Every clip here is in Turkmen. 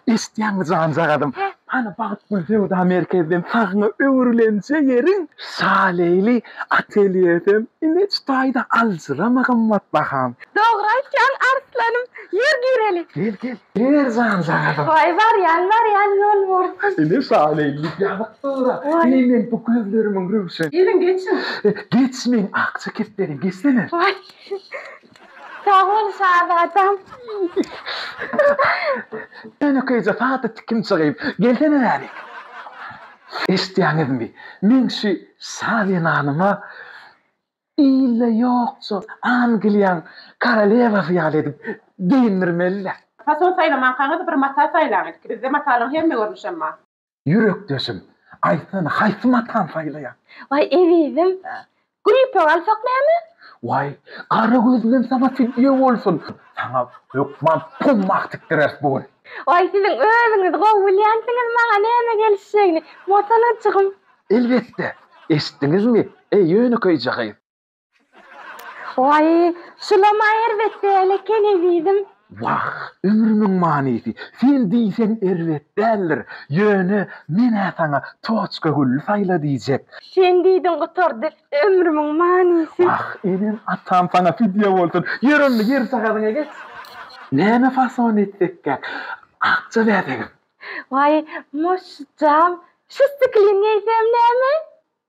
Eşitýäňmi janjagazym, hany Bagtgül söwda merkezden sagyňa öwrülenje ýeriň şaleýli atelýesem ineç taýda aljyrama gymmat baham. Dogry aýtýaň arslan-ym, ýör gireli. Gel, gel, gel janjagazym. Waý, barýan, barýan, ýol bolsun. Ine şaleýli ýazykdyr-a, eý meň bu gözlerimiň röwşen. Geliň, geçiň. Geçmeň, akja kepberiň, geçsene. Waý. Sag bol şazatam. Enekeýje sada tikinçi gyz. Gelsene bärik. Eşitýäňizmi? Men şu şazenanyma ilde ýokja Angliýaň korolewasy ýaly edip geýindirmeli-dä. Fason saýlamankaňyz bir mata saýlaň ilki. Bizde matalaryň hemme görnüşem bar. Ýürekdeşim, aýtsana, haýsy matany saýlaýaň? Waý, ezizim, gülpöw alsak näme? Waý, gara gözlüm saňa fidýe bolsun! Saňa hökman pummak tikdireris bu gün. Waý, siziň özüňiz gowy bilýänsiňiz maňa näme gelişjegini, motalajygym. Elbetde, eşitdiňizmi, eý, ýönekeýje gyz? Waý, şulam-a erbetde eleken ezizim. Wah, ömrümiň manysy, sen diýseň erbet däldir. Ýöne men-ä saňa Toçkagülli saýla diýjek. Sen diýdiň gutardy ömrümiň manysy. Wah, enem-atam saňa fidýe bolsun. Ýör onda, ýer sagadyňa geç. Näme fason etsek käk? Akja bäsegem. Waý, moşjam, şu stiklin geýsem näme?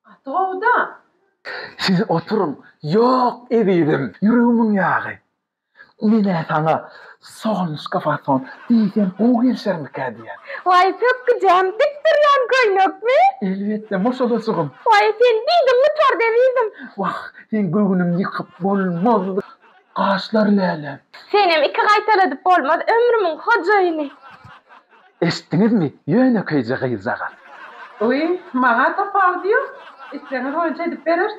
Gaty gowy-da. Siz oturyň. Ýok, ezizim, ýüregimiň ýagy. Men-ä saňa solnuşka fason diýsem gowy gelişermikä diýýän. Waý, pökgüjäm, dik durýan köýnekmi? Elbetde, moşalyjygym. Waý, sen diýdiň gutardy, ezizim. Wah, seň göwnüňi ýykyp bolmaz, gaşlar lälem. Senem iki gaýtaladyp bolmaz, ömrümiň hojaýyny. Eşitdiňizmi, ýönekeýje gyzjagaz. Öý, maňa topar diýo. Islegiňiz boýunça edip bereris.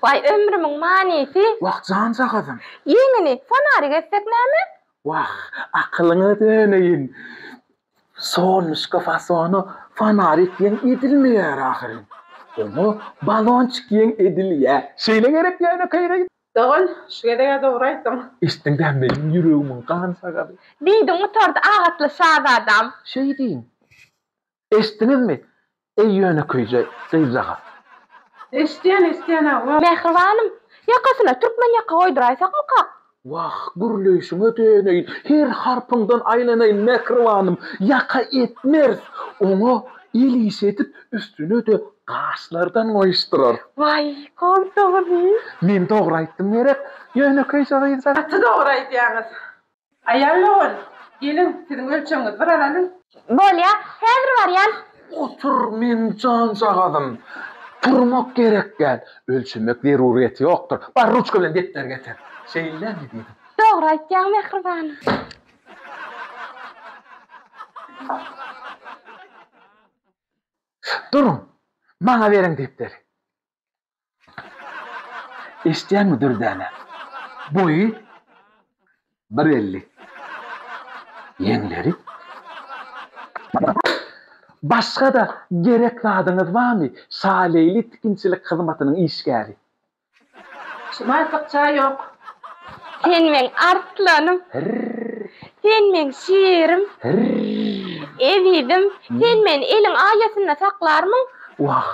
Waý, ömrümiň manysy. Wah, janjagazym. Ýeňini, fonarik etsek näme? Wah, akylyňa döneýin. Solnuşka fasona fonarik ýeň edilmeýär ahyryn. Oňa balonçik ýeň edilýär. Şeýle gerek, ýönekeý gyz. Dogan, şu gezeg-ä dogry aýtdyň. Eşitdiň-dä, meniň ýüregimiň gan sagazy. Diýdi gutardy agatly şazadam. Şeýdiň. Eşitdiňizmi, eý ýönekeýje gyzjagaz? Eşidýän, eşidýän agam. Mähribanym, ýakasyna türkmen ýaka goýduraýsakmykak? Wah, gürleýşiňe döneýin, her harpyňdan aýlanaýyn, Mähribanym, ýaka etmeris. Oňa el iş edip, üstüne-de gaşlardan goýuşdyrar. Waý, kont dogry. Men dogry aýtdym gerek, ýönekeýje gyzjak. Gaty dogry aýdýaňyz. Aýal dogan, geliň, siziň ölçegiňizi bir alalyň. Bolýa, häzir barýan. Otur, men janjagazym. Turmak gerek däl. Ölçemek zerurýeti ýokdur. Bar, ruçka bilen depderi getir. Şeýlemi diýdim? Dogry aýtýaň, mähribanym. Duruň, maňa beriň depderi. Eşidýäňmi, Dürdäne? Boýy bir elli. Ýeňleri. Başga-da gerek zadyňyz barmy, Şaleýli tikinçilik hyzmatynyň işgäri? Şumaý sykja ýok. Sen meň arslanym. Sen meň şirim. Ezizim, sen meni eliň aýasynda saklarmyň? Wah,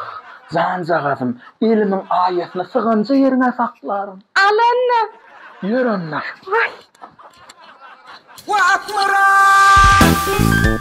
janjagazym, elimiň aýasynda syganja ýeriňe saklaryn. Al onda. Ýör onda. Waý. Wah, Akmyrat!